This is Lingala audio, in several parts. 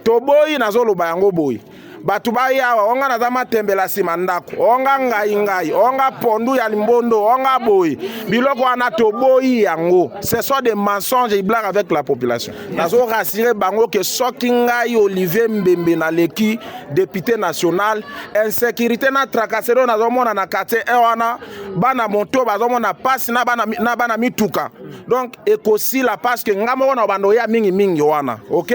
toboyi nazoloba yango boye bato baya awa onga naza matembela nsima ndako onga ngai ngai onga pondu ya limbondo onga boye biloko wana toboyi yango ce sont des mensonges et blague avec la population nazo rassure bango ke soki ngai olivier mbembe naleki député national insécurité na tracasserie oyo nazomona na quartier e wana bana moto bazomona mpasi na bana, na bana mituka donc ekosila parce que ngai moko na bando ya mingimingi wana ok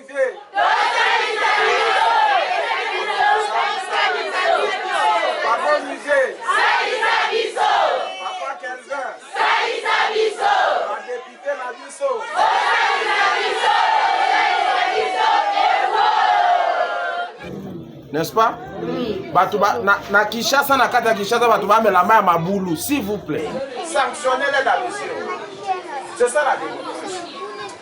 n'est-ce pas oui. bato ba, na, na kinshasa na kati ya kinshasa bato bamela mai ya mabulu s'il vous plaît sanctionne les la mission c'est ça la démocratie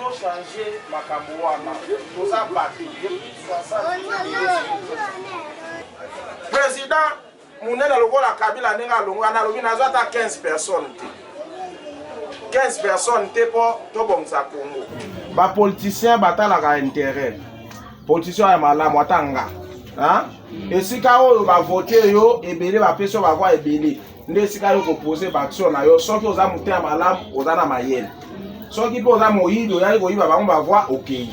To change makambo wana toza batu depuis 60 president munene lokola kabila ndenge alongwa nalobi nazwa ata 15 personnes te 15 personnes te mpo tobongisa congo bapoliticien batalaka interet politicien ya malamu ata nga esika oyo bavote yo ebele bapesi yo bavoi ebele nde esika yo kopose baaction na yo soki oza motema malamu oza na mayele soki mpe oza moyibi oyaki koyiba bango bavoi okei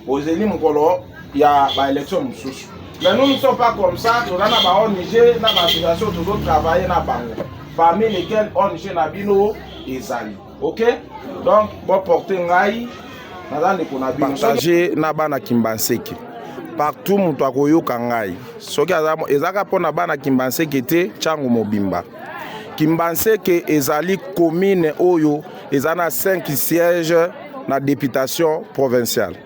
ozeli mokolo ya baélection mosusu mais nous ne sommes pas comme ça toza na ba ong na baassociation tozotravaille na bango parmi lesquels ong na bino ezali ok donc boporte ngai naza ndeko na bino partage na bana kimbanseke partout moto akoyoka ngai soki ezaka mpo na bana kimbanseke te ntango mobimba kimbanseke ezali commune oyo eza na 5 siège na députation provinciale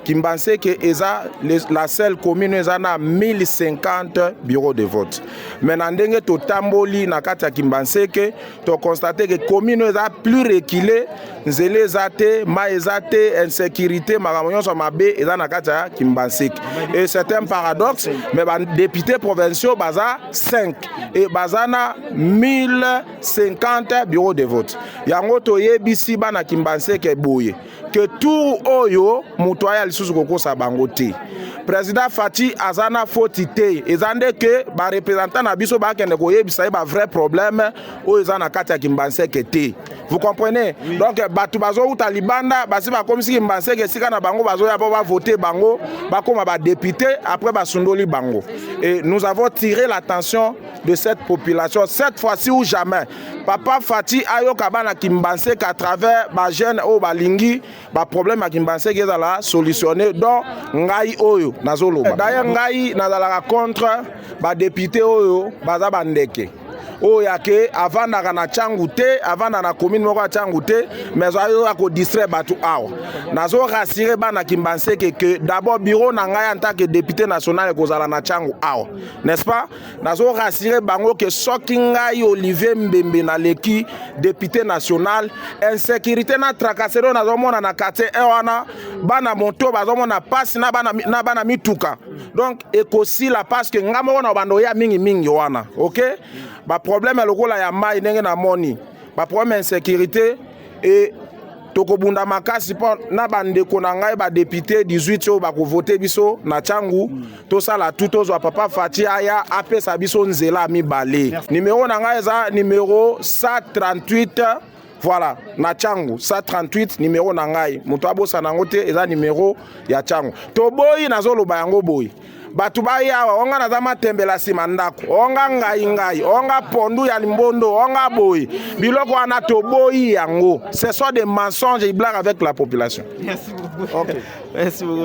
Kimbanseke eza la seule commune eza na 1050 bureaux de vote mais na ndenge totamboli na kati ya Kimbanseke tokonstate ke commune eza plus reculée nzela eza te mai eza te insécurité makambo nyonso mabe eza na kati ya Kimbanseke et c'est un paradoxe mais badepute provinciaux baza 5 et baza na 1050 bureaux de vote yango toyebisi bana Kimbanseke boye ke tour oyo moto aya lisusu kokosa bango te président faci aza na foti te eza nde ke barepresentant na biso bakende koyebisa ye bavrai problème oyo eza na kati ya kimbanseke te vous comprenez oui. donc bato bazowuta libanda basi bakomisi kimbanseke esika na bango bazoya mpo bavote bango bakóma badepute après basundoli bango et nous avons tiré l'attention de cette population cette fois-ci ou jamais papa fati ayoka bana kimbanseke à travers bajeune oyo balingi baproblème ya kimbanseke ezala solutionne don ngai oyo nazoloba eh, dailleurs ngai nazalaka contre badepute oyo baza bandeke oyo yake avandaka na cangu te avanda na commune moko ya cangu te mais ayoka kodistraire bato awa nazo rassure bana kimbanseke que d'abord bureau na ngai en tant que député national ekozala na cangu awa n'est-ce pas nazo rassurer bango ke soki ngai Olivier Mbembe naleki député national insécurité na tracasserie oyo nazomona na quartier e wana bana moto bazomona mpasi na bana, na bana mituka donc ekosila parce que ngai moko na bando ya mingi mingi wana ok baproblème lokola ya mai ndenge namoni baproblème ya insécurité e tokobunda makasi mpo na bandeko na ngai badepute 18 oyo bakovote biso na ntango tosala tu tozwa papa fati aya apesa biso nzela mibale nimero na ngai eza nimero 138 voilà na changu 138 numero na ngai moto abosana yango te eza numero ya changu toboyi nazoloba yango boye bato bayawa onga naza matembela nsima ndako onga ngai ngai onga pondu ya limbondo onga boye biloko wana toboyi yango ce sont des mensonges et blague avec la population Merci beaucoup. Okay. Merci beaucoup.